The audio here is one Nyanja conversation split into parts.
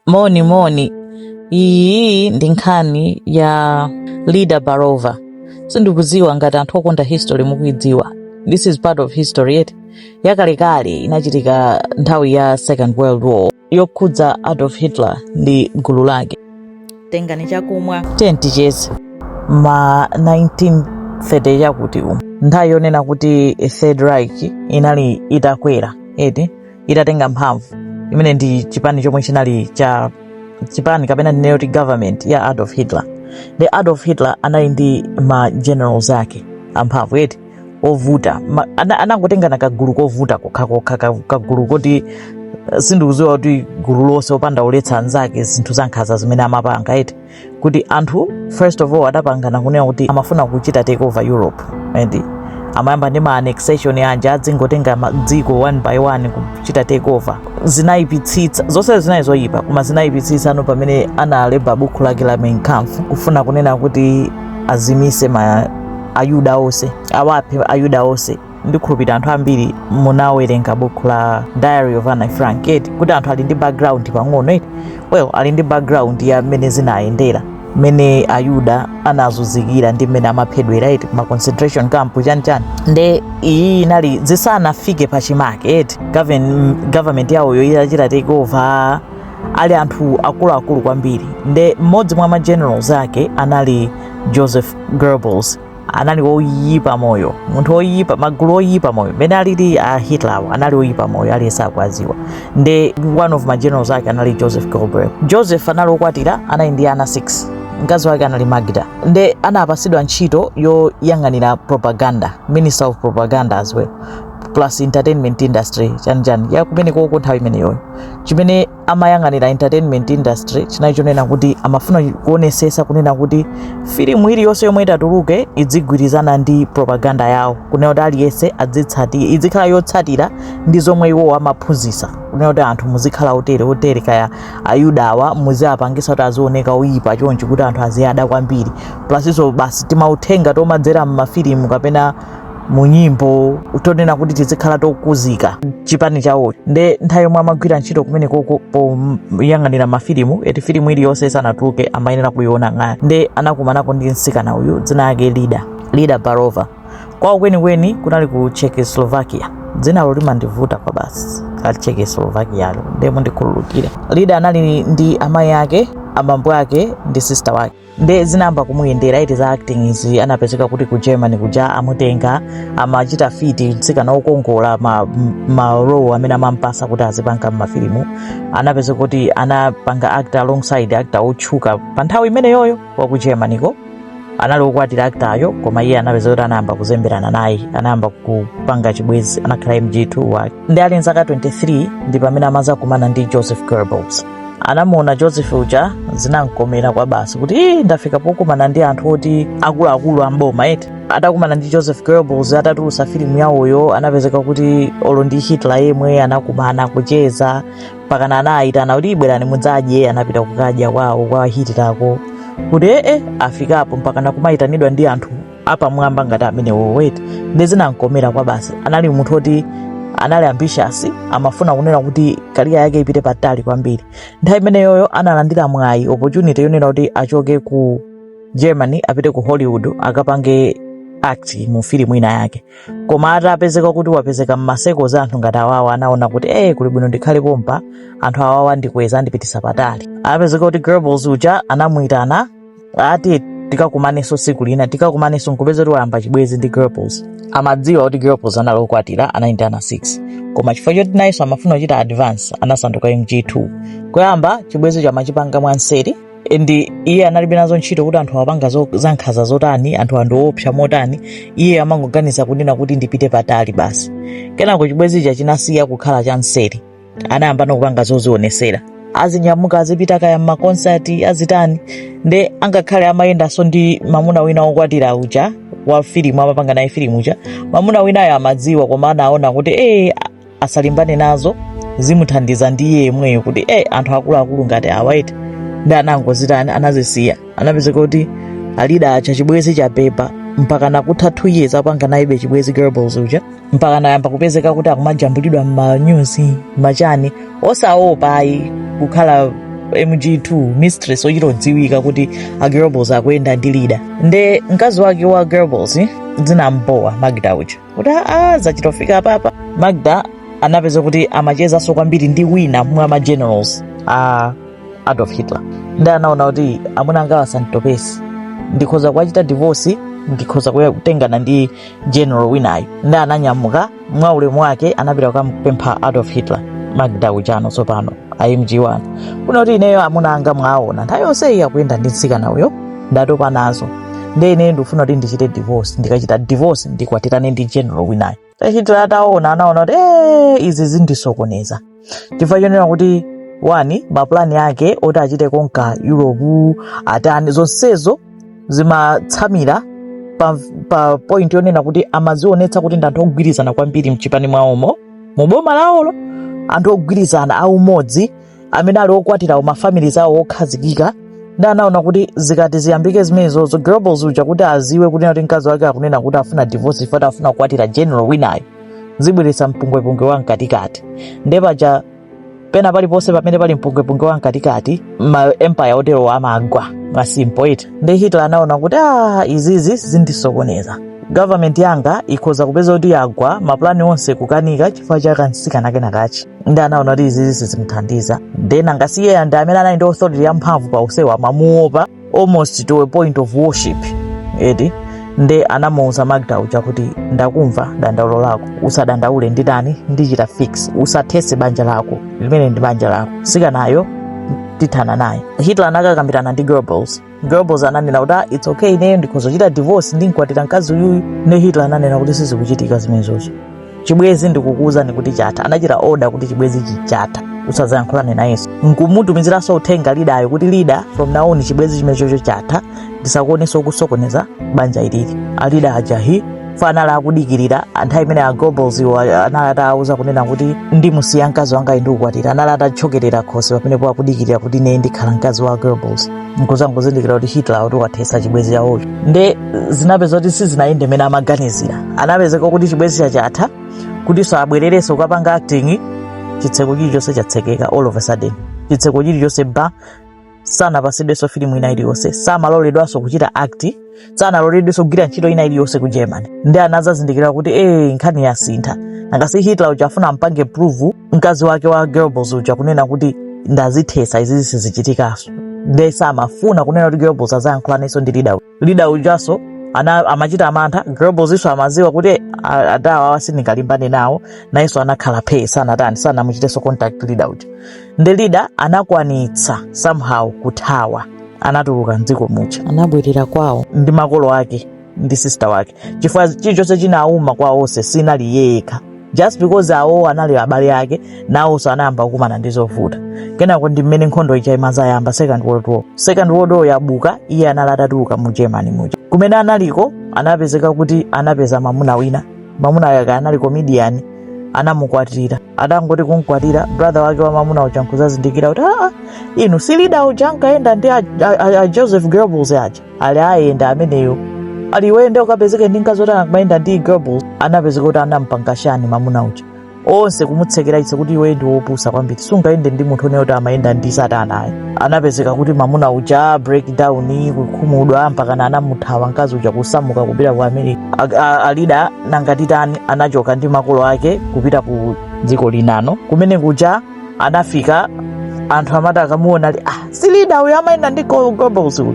Moni moni, iyi ndi nkhani ya Lida Baarova. Sindikudziwa ngati anthu okonda history mukuidziwa. This is part of history eti yakalekale inachitika nthawi ya Second World War yokhudza Adolf Hitler ndi gulu lake. Tengani chakumwa ticheze ma 1930 chakuti umu nthawi yonena kuti Third Reich inali itakwera eti itatenga mphamvu imene ndi chipani chomwe chinali cha chipani kapena tinene kuti government ya adolf hitler nde adolf hitler anali ndi ma generals ake amphamvu eti ovuta Ma- ana- anangotengana kagulu kovuta kokhakokha ka- kagulu koti eh, sindikudziwa kuti gulu lonse opanda oletsa anzake zinthu zankhanza zimene amapanga eti kuti anthu first of all adapangana kunena kuti amafuna kuchita take over europe eti amayamba ndi ma annexation aja adzingotenga ma- dziko one by one kuchita take over zinayipitsitsa zonse zinali zoyipa koma zinayipitsitsa tsano pamene analemba buku lake la Mein Kampf kufuna kunena kuti azimise ma ayuda onse awaphe ayuda onse ndikukhulupirira anthu ambiri munawerenga bukhu la diary of anne frank eti kuti anthu ali ndi background pang'ono eti well ali ndi background ya mmene zinayendera mmene ayuda anazunzikira ndi mmene amaphedwera eti ma concentration camp chanichani nde iyi inali zisanafike pachimake eti Govern- government yawoyo itachita take over ali anthu akuluakulu kwambiri nde mmodzi mwa ma generals ake anali joseph goebbels anali woyipa moyo munthu woyipa magulu woyipa moyo mmene alili a hitler anali woyipa moyo aliyense akuwadziwa nde one of ma generals ake anali joseph goebbels joseph anali wokwatira anali ndi ana 6 mkazi wake anali magda nde anapatsidwa ntchito yoyang'anira propaganda minister of propaganda as well plus entertainment industry chanichani ya kumeneko uko nthawi imeneyoyo chimene amayang'anira entertainment industry chinali chonena kuti amafuna kuonetsetsa kunena kuti filimu iliyonse yomwe itatuluke idzigwirizana ndi propaganda yawo kunena kuti aliyense adzitsati idzikhala yotsatira ndi zomwe iwowo amaphunzitsa kunena kuti anthu muzikhala otere otere kaya ayudawa muziapangisa kuti azioneka oyipa chonchi kuti anthu aziwada kwambiri plus nso basi timauthenga tomadzera m'mafilimu kapena mu nyimbo tonena kuti tizikhala tokuzika chipani chawo nde nthawi yomwe amagwira ntchito kumeneko uko poyang'anira mafilimu eti filimu iliyonse isanatuluke amayenera kuiona kaye nde anakumanako ndi mtsikana uyu dzina lake lida lida baarova kwawo kwenikweni kunali ku czechoslovakia dzinalo limandivuta kwabasi la czechoslovakialo nde mundikhululukire lida anali ndi amayi ake abambo ake ndi sista wake nde zinayamba kumuyendera eti za acting izi anapezeka kuti ku germany kuja amutenga amachita fiti mtsikana wokongola ma, ma role amene amampasa kuti azipanga mmafilimu anapezeka kuti anapanga act alongside actor otchuka pa nthawi imeneyoyo wa ku germany ko anali wokwatira actoryo koma iye anapezeka kuti anayamba kuzemberana naye anayamba kupanga chibwezi anakhala mg2 wake nde ali nzaka 23 ndi pamene amazakumana ndi joseph goebbels anamuona joseph uja zinamkomera kwa basi kuti "Ii, ndafika pokumana ndi anthu oti akuluakulu amboma eti atakumana ndi joseph goebbels atatulutsa filimu yawoyo anapezeka kuti olo ndi hitler yemwe anakumana kucheza mpakana anayitana kuti ii bwerani mudzadye anapita kukadya kwawo kwa hitlerko kuti ee afikapo mpakana kumayitanidwa ndi anthu apamwamba ngati amenewo eti nde zinamkomera kwa basi anali munthu oti anali ambitious amafuna kunena kuti career yake ipite patali kwambiri nthawi imeneyoyo analandira mwayi opportunity yonena kuti achoke ku germany apite ku hollywood akapange act mu filimu ina yake koma atapezeka kuti wapezeka mma circle za anthu ngati awawa anaona kuti ee kuli bwino ndikhale pompa anthu awawa andikweza andipitisa patali anapezeka kuti goebbels uja anamuyitana ati tikakumanenso tsiku lina tikakumanenso nkupeza kuti wayamba chibwezi ndi goebbels amadziwa kuti goebbels anali okwatira anali ndi ana 6 koma chifukwa choti nayenso amafuna kuchita advance anasanduka mg2 koyamba chibwezi cho amachipanga mwanseri nde iye analibe nazo ntchito kuti anthu apanga zo- zankhanza zotani anthuwa ndi oopsa motani iye amangoganiza kunena kuti ndipite patali basi kenako chibwezi chija chinasiya kukhala cha nseri anayamba nokupanga zozionesera azinyamuka azipita kaya mmakonsati azitani nde angakhale amayendanso ndi mamuna wina wokwatira uja wa filimu amapanga naye filimu uja mamuna winayo amadziwa koma anaona kuti ee a- asalimbane nazo zimuthandiza ndi iye yemweyo kuti ee anthu akuluakulu ngati awa eti nde anangozitani anazisiya anapezeka kuti a lida aja chibwezi chapepa mpaka nakutha 2 years akupanga nayebe chibwezi goebbels uja mpaka anayamba kupezeka kuti akumajambulidwa m'manyuzi mmachani osaopa ayi kukhala mg2 mistress ochita kudziwika kuti a goebbels akuyenda ndi lida nde mkazi wake wa goebbels zinamubowa magda uja kuti aa zachita kufika apapa magda anapeza kuti amachezanso kwambiri ndi wina mwa ma generals a adolf hitler nde anaona kuti amuna angawa asanditopetse ndikhoza kuwachita divorce ndikhoza kuya- kutengana ndi general winayo nde ananyamuka mwa ulemu wake anapita kukampempha adolf hitler magda uja no tsopano a mg1 kuno kuti ineyo amuna anga mwaona nthawi yonse iyi akuyenda ndi mtsikana uyo ndatopa nazo nde ineyo ndikufuna kuti ndichite divorce ndikachita divorce ndikwatirane ndi general winayo hitler ataona anaona kuti "Eh, izi zindisokoneza chifukwa chonena kuti wani mapulani ake oti achite konka europe atani zonsezo zimatsamira pa, pa point yonena kuti amazionetsa kuti ndi anthu ogwirizana kwambiri mchipani mwawomo mu boma lawolo anthu ogwirizana aumodzi amene ali okwatira mafamilies awo okhazikika ndi anaona kuti zikati ziyambike zimenezozo goebbels uja kuti aziwe kunena kuti mkazi wake akunena kuti afuna divorce if ati afuna kukwatira general winayo zibweretsa mpungwepungwe wa mkatikati nde paja pena paliponse pamene pali mpungwepungwe wa mkatikati ma empire oterowo amagwa mwa simple eti nde hitler anaona kuti ah, izizi zindisokoneza government yanga ikhoza kupeza kuti yagwa mapulani onse kukanika chifukwa cha kansikana kenakachi ndi anaona kuti izizi sizimthandiza then ngati iyeyo ndi amene anali ndi authority yamphamvu pa onsewa amamuopa almost to a point of worship eti nde anamuuza magda uja kuti ndakumva dandaulo lako usadandaule nditani ndichita fix usathese banja lako limene ndi banja lako sikanayo tithana naye hitler anakakambirana ndi goebbels goebbels ananena kuti "Ah, its okay ineyo ndikhoza kuchita divorce ndinkwatira mkazi uyuyu ne hitler ananena kuti sizikuchitika zimenezozo chibwezi ndikukuwuzani kuti chatha anachita oda kuti chibwezi chija chatha usazayankhulane nayenso nkumutumiziranso uthenga lidayo kuti lida from now on chibwezi chimenechocho chatha ndisakuonenso kusokoneza banja ilili alida aja anali akudikirira nthawi imene a goebbels iwo anali atawuza kunena kuti ndimusiya mkazi wanga ndikukwatira anali atatchokerera khosi pamenepo akudikirira kuti ine ndikhala mkazi wa goebbels nkuzangozindikira kuti hitler kuti wathesa chibwezi chawocho nde zinapeza kuti sizinayende mene amaganizira anapezeka kuti chibwezi chija chatha kuti abwererenso kukapanga acting chitseko chilichonse chatsekeka all of a sudden chitseko chilichonse ba sanapasidwenso filimu ina iliyonse samaloledwanso kuchita act sanaloledwenso kugwira ntchito ina iliyonse ku germany ndi anazazindikira kuti ee nkhani yasintha ngati hitler uja afuna ampange prove mkazi wake wa goebbels uja kunena kuti ndazithetsa izizi sizichitikanso nde samafuna kunena kuti goebbels azayankhulanenso ndi lida lida ujanso amachita mantha goebbelsinso amaziwa kuti "Eh, a- adawa awa sindingalimbane nawo nayenso anakhala phee sanatani sanamuchitenso contact lida uja ndi lida anakwanitsa somehow kuthawa anatuluka mdziko muja anabwerera kwawo ndi makolo ake ndi sister wake chifukwa chilichonse chinauma kwa onse sinali yekha just because awo anali abale ake nawonso anayamba kukumana ndi zovuta kenako ndi mmene nkhondo ija imazayamba second world war second world war yabwuka iye anali atatuluka mu germany muja kumene analiko anapezeka kuti anapeza mamuna wina mamuna wake anali comedian anamukwatira atangoti kumkwatira brother wake wa mamuna uja nkuzazindikira kuti aa inu si lida uja ankayenda ndi a, a, a, a joseph goebbels aja ati eya ndi ameneyo ati iweyo nde ukapezeke ndi mkazi oti anakamayenda ndi goebbels anapezeka kuti anampanga chani mamuna uja onse kumutsekera chitseko kuti iwe ndi wopusa kwambiri sungayende ndi munthu onena kuti amayenda ndi satana ayi anapezeka kuti mamuna uja breakdown kukhumudwa mpakana anamuthawa mkazi uja kusamuka kupita ku america A- a- a Lida nanga atani anachoka ndi makolo ake kupita ku dziko linanso kumene kuja anafika anthu amati akamuona ali ah si lida uyo amayenda ndi go- goebbels uyu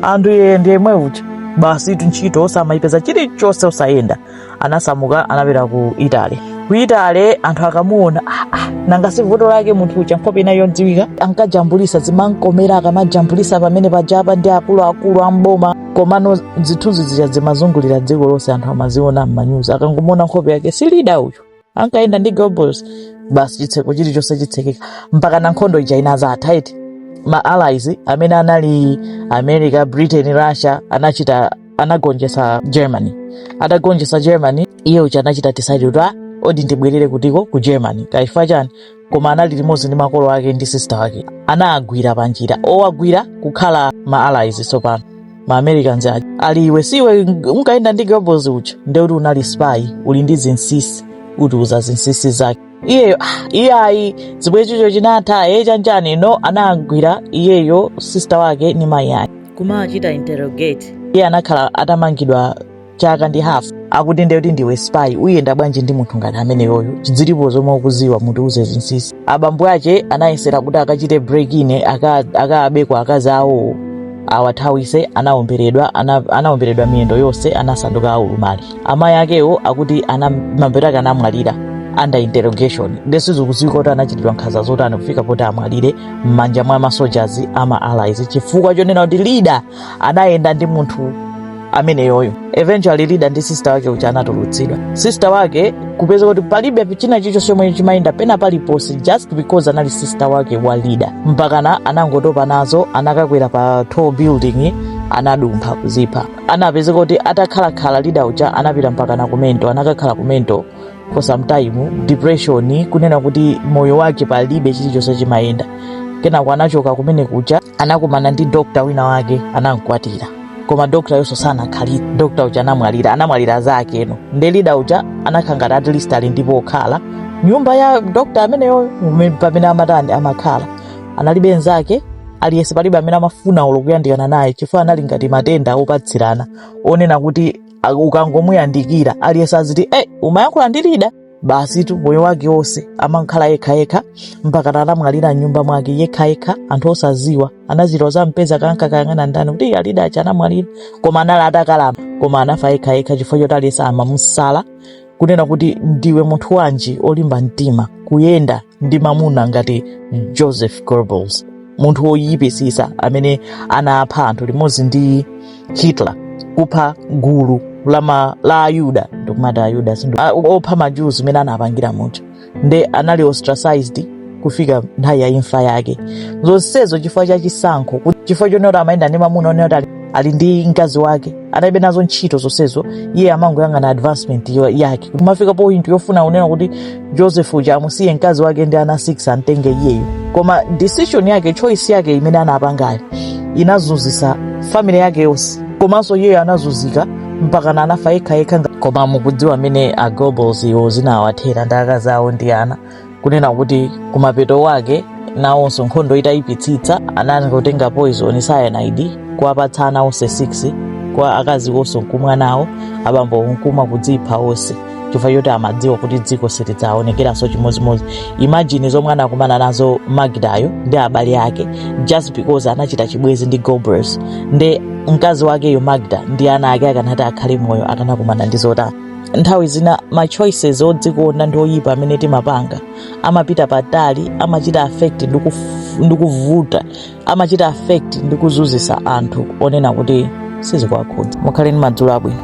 anthu iye ndi yemwe uja basitu ntchito osamayipeza chilichonse osayenda anasamuka anapita ku italy ku italy anthu akamuona ah, ah, nanga si vuto lake munthu uja nkhope inali yodziwika ankajambulisa zimankomera akamajambulisa pamene pajapa ndi akuluakulu amboma komano zithunzi zija zimazungulira dziko lonse anthu amaziona m'manyuzi akangomuona nkhope yake si lida uyu ankayenda ndi goebbels basi chitseko chilichonse chitsekeka mpakana nkhondo ija inazatha eti ma allies amene anali america britain russia anachita anagonjesa germany atagonjesa germany iye uja anachita decide kuti ah odi ndibwerere kutiko ku germany kaya chifukwa chani koma anali limodzi ndi makolo ake ndi sista wake anagwidwa panjira owagwira kukhala ma allies tsopano ma americans aja ali iwe si iwe unkayenda ndi goebbels uja ndekuti unali spy uli ndi zinsinsi utiuza zinsinsi zake iyeyo ah, iye ayi chibwenzicho chinatha iye cha njani no anagwidwa iyeyo sista wake ndi mayi ake kumawachita interrogate iye anakhala atamangidwa chaka ndi half akuti ndiye kuti ndiwe spy ungayende bwanji ndi munthu ngati ameneyoyo nde zilipo zomwe ukuziwa mutiuze zinsinsi abambo ake anayesera kuti akachite break in aka- akaabe akazi awowo awathawise anaomberedwa ana, anaomberedwa miyendo yonse anasanduka olumala amayi akewo akuti anamamenya anamwalira under interrogation nde sizikuziwika kuti anachitidwa nkhanza zotani kufika poti amwalire m'manja mwa masojazi ama allies chifukwa chonena kuti lida anayenda ndi munthu ameneyoyo eventually lida ndi sista wake uja anatulutsidwa sista wake kupezeka kuti palibe china chilichonse chomwe chimayenda pena paliponse just because anali sista wake wa lida mpakana anangotopa nazo anakakwera pa tall building anadumpha kuzipha anapezeka kuti atakhalakhala lida uja anapita mpakana ku mental anakakhala ku mental for some time depression kunena kuti moyo wake palibe chilichonse chimayenda kenako anachoka kumene kuja anakumana ndi dokta wina wake anamkwatira koma doktayonso sanakhalitse dokta uja anamwalira anamwalira zakezeno nde lida uja anakhala ngati at least ali ndi pokhala nyumba ya dokta ameneyo mume- pamene amatani amakhala analibe nzake aliyense palibe amene amafuna olo kuyandikana naye chifukwa anali ngati matenda opatsirana onena kuti A- ukangomuyandikira aliyense aziti e umayankhula ndi lida basitu moyo wake wonse amakhala yekhayekha mpakana anamwalira mnyumba mwake yekhayekha anthu osaziwa anachita kuzampeza ankakayang'ana ndani kuti "Iya, lida uja anamwalira koma anali atakalamba koma anafa yekhayekha chifukwa choti aliyense amamusala kunena kuti ndiwe munthu wanji olimba mtima kuyenda ndi mamuna ngati joseph goebbels munthu woyipisisa amene anapha anthu limodzi ndi hitler kupha gulu la ma- la ayuda ndikumati ayuda sindu- a- opha ma Jews mmene anapangira muja nde anali ostracized kufika nthawi ya imfa yake zonsezo chifukwa cha chisankho kuti- chifukwa chonena kuti amayenda ndi mamuna onena kuti ali- ali ndi mkazi wake analibe nazo ntchito zonsezo iye amangoyang'ana advancement yo- yake kumafika point yofuna kunena kuti joseph uja amusiye mkazi wake ndi ana 6 amtenge iyeyo koma decision yake choice yake imene anapangayo inazunzisa family yake yonse komanso iyeyo anazunzika mpakana anafa yekhayekha nga- koma mukudziwa mmene a goebbels iwo zinawathera ndi akazi awo ndi ana kunena kuti kumapeto wake nawonso nkhondo itayipitsitsa anangotenga poison cyanide kuwapatsa ana onse 6 kwa akazi wonso nkumwa nawo abambo nkumwa kudzipha onse chifukwa choti amadziwa kuti dziko silidzaonekeranso chimodzimodzi imagine zomwe anakumana nazo magdayo ndi abale ake just because anachita chibwezi ndi goebbels nde mkazi wakeyo magda ndi ana ake akanati akhale moyo akanakumana ndi zotani nthawi zina ma choices odzikonda ndi oyipa amene timapanga amapita patali amachita affect ndi kuf- ndi kuvuta amachita affect ndi kuzunzisa anthu onena kuti sizikuwakhudza mukhale ndi madzulo abwino